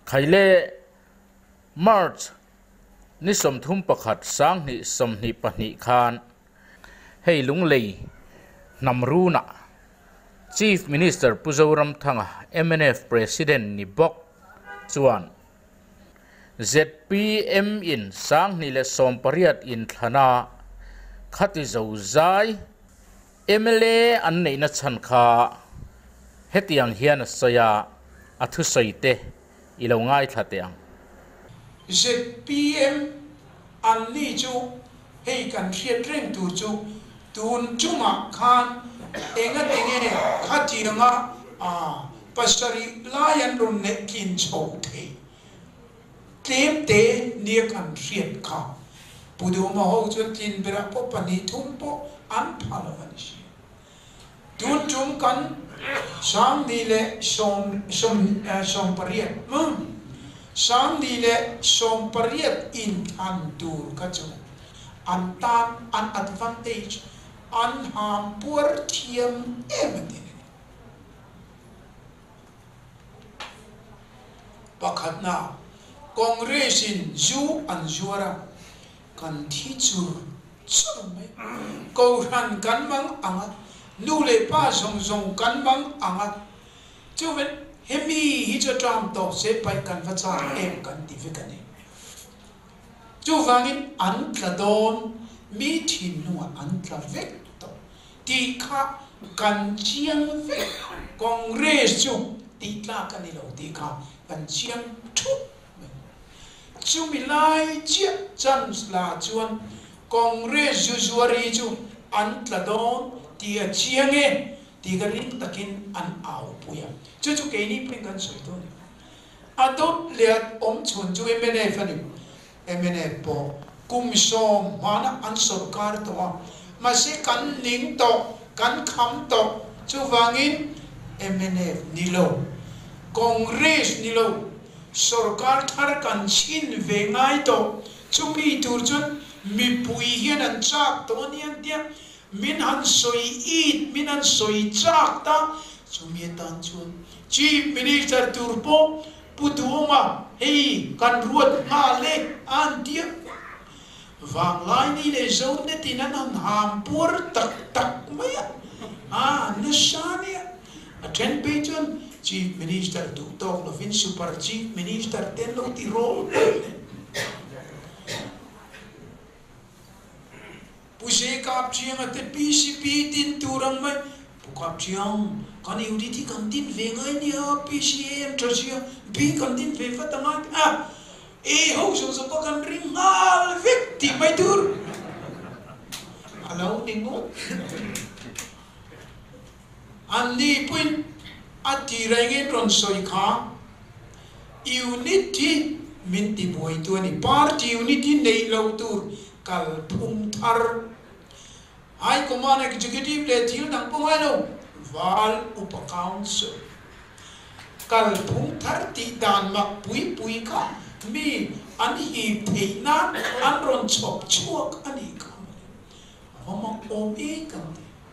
Khaile, March, ni sawmthum pakhat sanghnih sawmhnih pahnih khan hei Lunglei hnam runa Chief Minister Pu Zoramthanga mnf President ni bawk chuan zpm in sanghnih leh sawmpariat inthlana khati zozai Mla an neihna chhan kha hetiang hian a sawi a, a thusawi te i lo ngaithla teh ang. Zpm an ni chu hei kan hriat reng tur chu tun chungah khan enga ti nge khatianga pasarih lai an rawn nehtlinchho thei? tlem te nek an hriat kha. Pu Duma ho chuan tlin berah pawh pahnih thum pawh an pha lo a ni hriat. Tun tum kan Sangni leh Sawmpariat Sangni leh Sawmpariat in thlan tur kha chu an tan an advantage an ham puar thiam em a ti leh. Pakhatna, Congress in zu an zuar a, kan thi chur chur mai, Kohhran kan mang ang a, nu leh pa zawng zawng kan mang ang a, chuven hemi hi chu Trump tawp che paih kan va chak em kan ti vek a ni. Chuvangin an tla dawn, mi thinlungah an tla vek tawh. tih kha kan chiang vek a, Congress chu tihtlak a ni lo tih kha kan chiang thup mai. Chumi lai chiah chance la chuan Congress Jujuari chu an tla dawn tih a chiang e tih ka ring takin an au pui a, chu chu keini pawhin kan sawi dawn a, a dawt leh a awm chhun chu MNF a ni. MNA pawh kum sawm hmana an sawm kar tawh a, mahse kan ning tawh, kan kham tawh, chuvangin MNF ni lo, Congress ni lo, sawrkar thar kan chhin ve ngai tawh, chumi tur chuan mipui hian an chak tawh a nia tia min han sawi it, min han sawi chak ta, chumi atan chuan Chief Minister tur pawh Pu Duma, Hei kan ruat nghâ le auntie-a vanglai ni leh Zone tin an han hâm puar tak tak mai a, aa nasa nia. A ṭhen phei chuan Chief Minister duh tâwk lovin Super Chief Minister te an lo ti râwm hle hle. Pu Zey Kap Chiang a te pi si pi tin tur ang mai. Pu Kap Chiang, kan unit hi kan din ve ngai nia, pi si e em tha zia, bi kan din ve vat ang a, a e ho zawh zawh pawh kan ring nghal vek tih mai tur a lo ni ngawt. An ni pawhin a ti reng in rawn sawi kha, unit hi min ti buaitu a ni, party unit hi neih lo tur kal phum thar. High command executive leh thil dang pawh ngai lo, Val Upa Council kal phum thar tih dan mak pui pui kha mi an hip theih nan an rawn chhawp chhuak a nih kha mah le, a va mak awm e kan ti.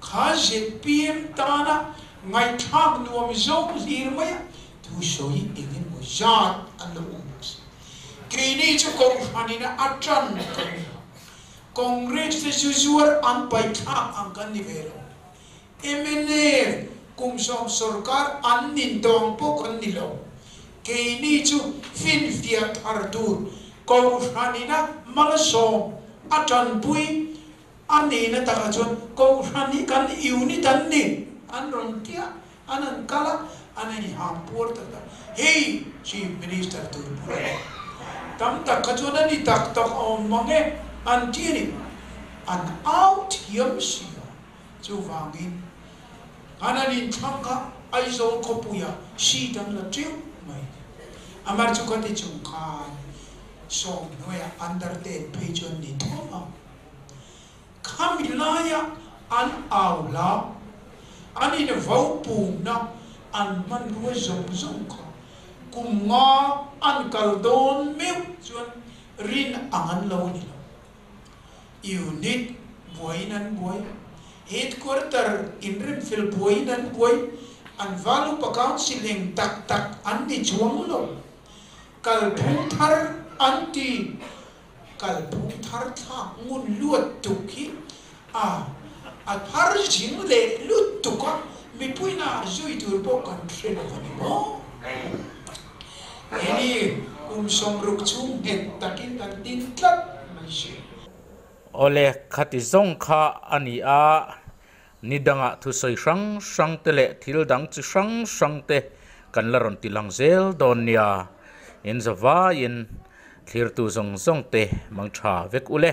kha zpm tana ngaihthlak nuam zawng hlir maia thu sawi eng emaw zat an lo awm bawk si. Keini chu kawng hranin a tan kan ni lo. Congress te chu zuar an paihthlak ang kan ni ve lo. Mna kum sawm sorkar an nin dawng pawh kan ni lo. Keini chu finfiah thar tur kawng hranin a mal a sawm a tanpui. A nihna takah chuan Kohhran hi kan unit an ni an rawn ti a, an han kal a, an han inham puar tak tak. Hei Chief Minister tur bura leh tam tak kha chuan a ni tak tak a awm ang e an ti a ni. An au thiam sia. Chuvangin an han inthlang kha Aizawl khawpuia si dang la teuh mai ni. Amar chu khati chung khan Sawmhnuaia undertake phei chuan ni thum ang. Khami laia an au hla, an in vo pumna an hmanruai zawng zawng kha kum nga an kal dawn meuh chuan rin ang an lo ni lo. Unit buaiin an buai, Headquarter inremfel buaiin an buai, an Valupa Council eng tak tak an ni chuang lo, kalphung thar an ti. Kalphung tharthlak ngun luattuk hi a a thar zing leh luttuk a, mipuina a zui tur pawh kan hre lo a ni maw? Hemi kum sawmruk chu nghet takin kan tin tlat mai si. Awle, khati zawng kha a ni a, Ni dangah thusawi hrang hrangte leh thil dang chi hrang hrangte kan la rawn ti lang zel dawn nia. Inza vaiin thlirtu zawng zawngte mang tha vek u le.